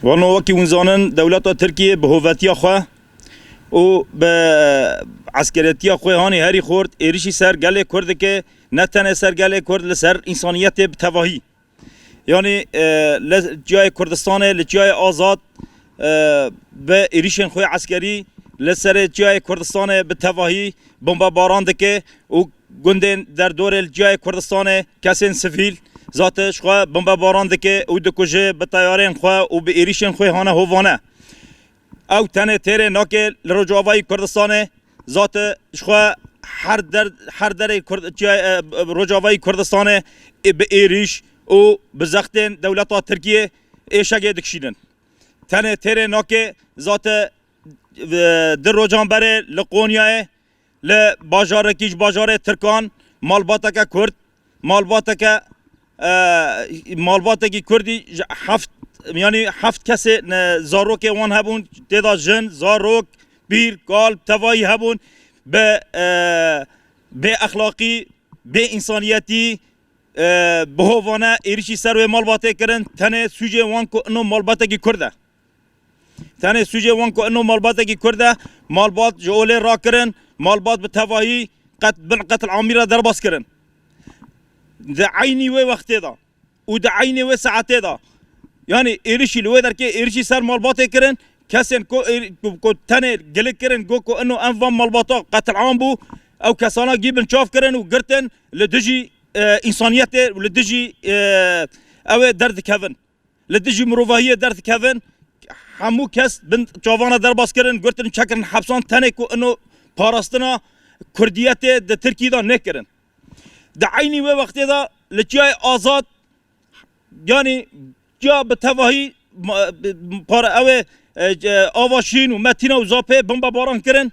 Wano wekî hûn zanin dewleta Tirkiyê bi hovetiya xwe û bi eskeretiya xwe hanê herî xurt êrişî ser gelê Kurd dike, ne tenê ser gelê Kurd li ser însaniyetê bi tevahî. Yanî li Çiyayê Kurdistanê, li Çiyayê Azad bi êrişên xwe eskerî li serê Çiyayê Kurdistanê bi tevahî Bombebaran dike û gundên derdorê li Çiyayê Kurdistanê kesên sivîl zatiş xwe bombebaran dike û dikuje bi teyarên xwe û bi êrîşên xwe hane hovane. Ew tenê têrê nake li Rojavayê Kurdistanê zatiş xwe her derê Rojavayê Kurdistanê bi êrîş û bi zextên dewleta Tirkiyê êşegê dikişînin. Tenê têrê nake zatiş Di rocan berê li Qonyayê li bajarekî ji bajarê Tirkan malbateke Kurd malbateke malbatekî Kurdî ji heft yanî heft kesê zarokê wan hebûn têda jin, zarok, pîr, kal, tevayî hebûn bi bêexlaqî, bêînsaniyetî bi hovane êrîşî ser wê malbatê kirin. Tenê sûcê wan ku ino malbatekî Kurd e. Tenê sûcê wan ku ino malbatekî Kurd e, malbat ji olê rakirin, malbat bi tevahî qet bin qetil amî re derbas kirin. Di eynî wê wextê de û di eynê wê saetê de yanî êrişî li wê derkê êrişî ser malbatê kirin, kesên ku ku tenê gilik kirin got ku ino em van malbata qetil am bû, ew kesana gî binçav kirin û girtin li dijî însaniyetê û li dijî ew ê derdikevin. li dijî mirovahiyê derdikevin, hemû kes bin çavana derbas kirin, girtin, çekirin hepsan tenê ku ino parastina Kurdiyetê di Tirkiyê de nekirin. Di eynî wê wextê de li Çiyayê Azad yanî çiya bi tevahî ew ê Ava Şîrîn û Metîna û Zapê bombebaran kirin.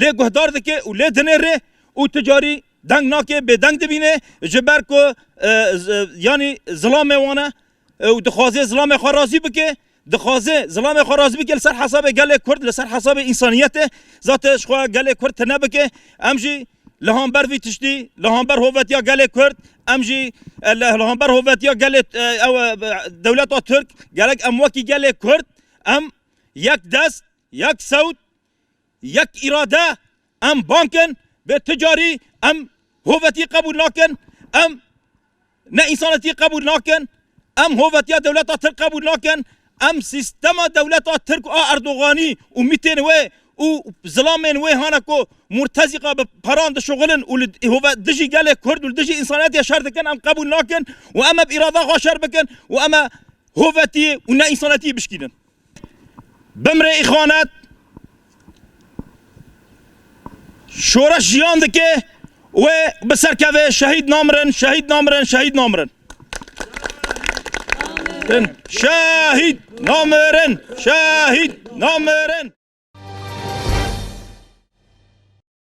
Lê guhdar dike û lê dinêre û tu carî deng nake bêdeng dibîne ji ber ku yanî zilamê wan e û dixwaze zilamê xwe razî bike. Dixwaze zilamê xwe razî bike li ser hesabê gelê Kurd, li ser hesabê însaniyetê. Zate ji xwe gelê Kurd tune bike. Em jî li hember vî tiştî, li hember hovetiya gelê Kurd, em jî li hember hovetiya gelê dewleta Tirk gerek em wekî gelê Kurd em yek dest, yek sewt, Yek îrade, em bang in vê tu carî em hovetiye qebûl nakin, em ne însanetiye qebûl nakin, em hovetiya dewleta tirk qebûl nakin, em sîstema dewleta tirk a Erdoganî û mîtên wê û zilamên wê hane ku murtezîqa bi peran dişuxilin û li dijî gelê kurd û li dijî însanetiyê şer dikin em qebûl nakin û em eb îrada xwe şer bikin û em ê hovetiye û ne însanetiyê bişkînin. Bimre îxwanet şoreş jiyan dike wê bi ser keve şehîd namirin şehîd namirin şehîd namirin. Din şehîd namirin şehîd namirin.